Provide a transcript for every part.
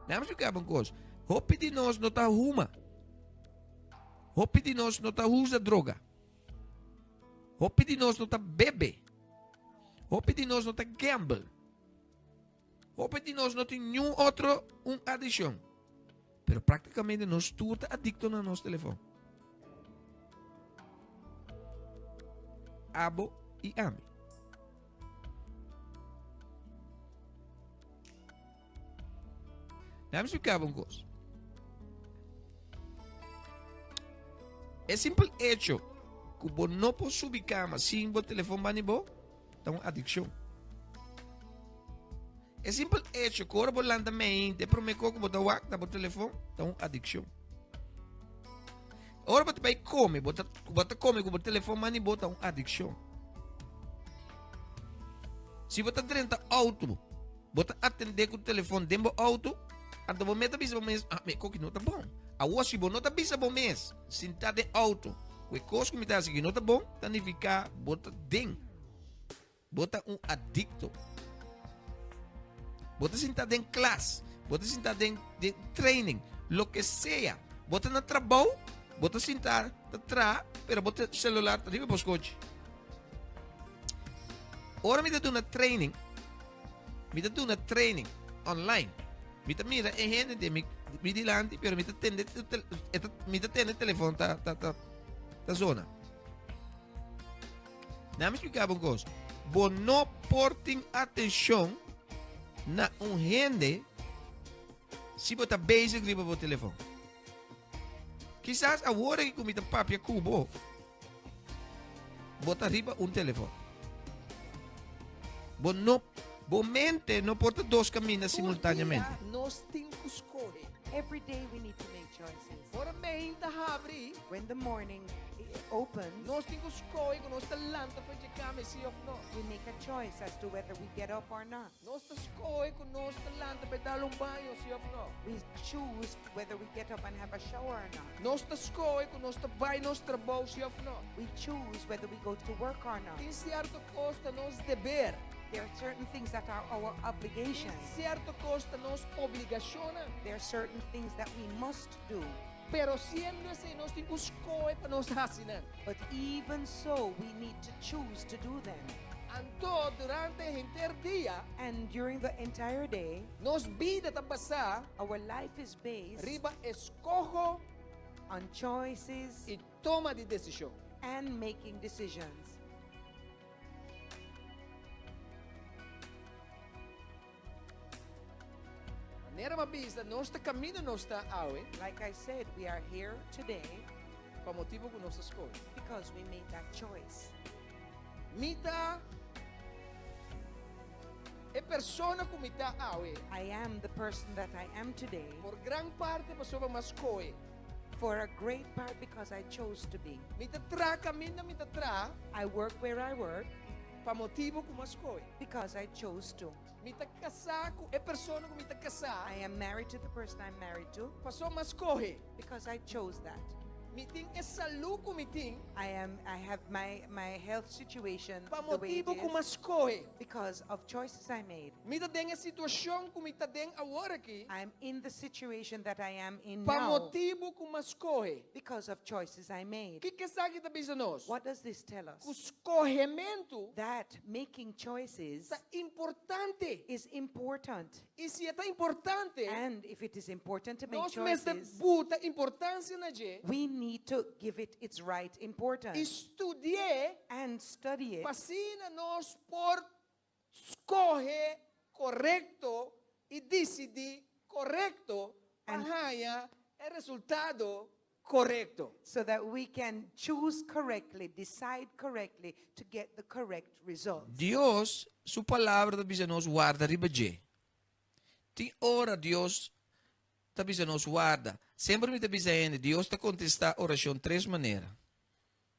Laat me explicá un cos. Hopi di nos no ta huma. Hopi di nos no ta usa droga. Hopi di nos no ta bebe. Hopi di nos no ta gamble. Hopi di nos no tin niun otro un adiccion, pero practicamente nos tur ta adicto na nos telefon. Abo y ami. Laat me explicaba un cosa. El simple hecho que vos no puedes subir cama sin vos teléfono van bo, ta un adiccion. E simpel echo cu ora bo lanta meinte, e prome co cu bo ta wak na bo telefon, ta un adiccion. Ora bo ta bay come, bo ta, bo ta come cu bo telefon mani bo, ta un adiccion. Si bo ta drenta auto, bo ta atende cu telefon den bo auto, anto bo meta bisa bo mes, ah, me coki no ta bon. Awo si bo no ta bisa bo mes, Sinta den outo ku e kos ku mi ta hasi ku no ta bon ta nifiká bo ta den. Bo ta un adikto. Bo ta sinta den klas, bo ta sinta den training, loke sea. Bo ta na trabou, bo ta sinta ta tra, pero bo ta e selular ta riba bo skochi. Ora mi ta duna training. Mi ta duna training online. Mi ta mira e hende de mi, mi dilanti, pero mi ta tende, mi ta tende telefon ta, ta, ta, ta zona. Na mi explicaba un cosa. Bo no porting atención na un hende si bo ta bezig riba bo telefon. Kisas awor aki ku mi ta papia ku bo, bo ta riba un telefòn. Bo no, bo mente no por ta dos kaminda simultáneamente. Tur dia nos tin ku skohe. Every day we need to make choices. Ora mein ta habri. When the morning opens. Nos tin ku skohe ku nos ta lanta for dje kama i si òf no. We make a choice as to whether we get up or not. Nos ta skohe ku nos ta lanta pa e dal un baño, si òf nò? We choose whether we get up and have a shower or not. Nos ta skohe ku nos ta bai nos trabou, si òf nò? We choose whether we go to work or not. Tin sierto kos ta nos deber. There are certain things that are our Tin obligations. sierto kos ta nos obligashonnan. There are certain things that we must do. Pero siendo esei nos tin ku skohe pa nos hasi nan. But even so we need to choose to do them. Anto durante e henter dia. And during the entire day. Nos bida ta basá. Our life is based. Riba eskoho. On choices. I toma di desishon. And making decisions. Manera m'a bisa, nos ta kaminda nos ta awe. Like I said, we are here today. Pa motibu ku nos ta skohe. Because we made that choice. Mi ta e persona ku mi ta awe. I am the person that I am today. Por gran parti pasobra m'a skohe. For a great part because I chose to be. Mi ta traha kaminda mi ta traha. I work where I work. Pa motibu ku M'ha skohe. Because I chose to. Mi ta kasá ku e persona ku Mi ta kasá. I am married to the person I am married to. Pasobra M'ha skohe. Because I chose that. Mi tin e salú ku Mi tin. I am, I have my, my health situation the way it is. Pa motibu ku M'ha skohe. Because of choices I made. Mi ta den e situashon ku Mi ta den awor aki. I am in the situation that I am in now. Pa motibu ku M'ha skohe. Because of choices. is I made. Kiko esaki ta bisa nos? What does this tell us? Ku skohementu. That making choices. Ta importante. Is important. I si e ta importante. And if it is important to make choices. Nos mester buta importansia na dje. We need to give it its right importance. I studi'e. And study it. Pa asina nos por Skohe korekto i disidí korekto pa haña e resultado korekto. So that we can choose correctly, decide correctly to get the correct result. Dios su palabra ta bisa nos warda riba dje. Tin ora Dios ta bisa nos warda. Semper mi ta bisa hende Dios ta contesta oracion tres manera.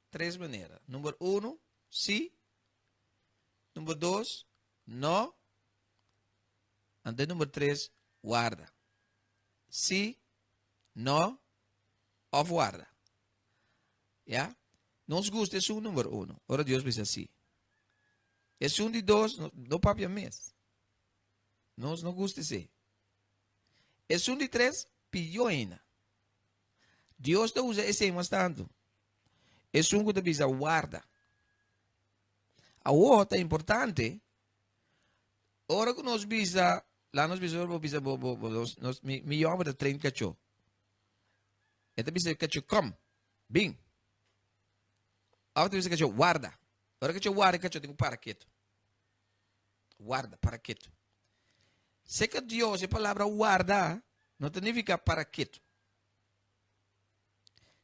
Tres manera. Number uno, sí, Number dos, no. Ante number tres, warda. Si, no, of warda. Ya? Nos gusta esun number uno, ora Dios bisa si. Esun di dos, no, no papia mes. Nos no gusta se. Esun di tres, piyo ena. Dios ta usa ese mas tanto. Esun ku ta bisa warda. Awor ta importante, ora ku nos bisa, la nos bisa, bo bisa, bo, bo, bo, nos, nos, mi, mi yòmber ta train kachó. E ta bisa kachó, kom, bin. Of ta bisa kachó, warda. Ora kachó warda, e kachó tin ku para ketu. Warda, para ketu. Seka Dios e palabra warda no ta nifiká para ketu.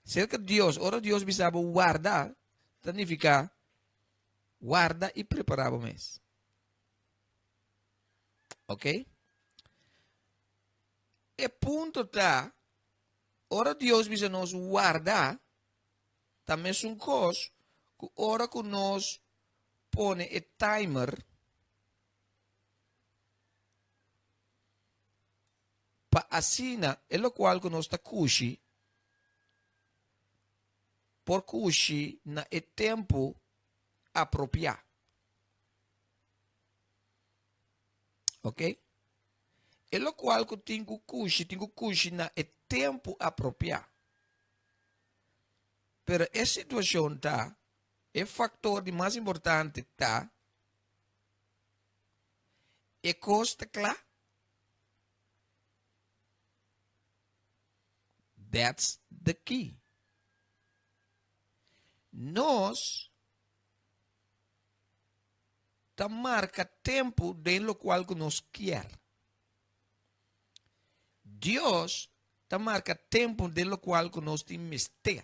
Serka Dios, ora Dios bisa bo warda, ta nifiká warda i prepará bo mes. Ok? E punto ta, ora Dios bisa nos warda, ta mesun kos ku ora ku nos pone e timer, Pa asina e lokual ku nos ta kushi por kushi na e tempu apropiá. Oke. E lokual ku tin ku kushi, tin ku kushi na e tempu apropiá. Pero e situashon ta, e faktor di mas importante ta, e kos ta kla That's the key. Nos ta marca tempo den lo cual que nos kier. Dios ta marca tempo den lo cual que nos tin mester.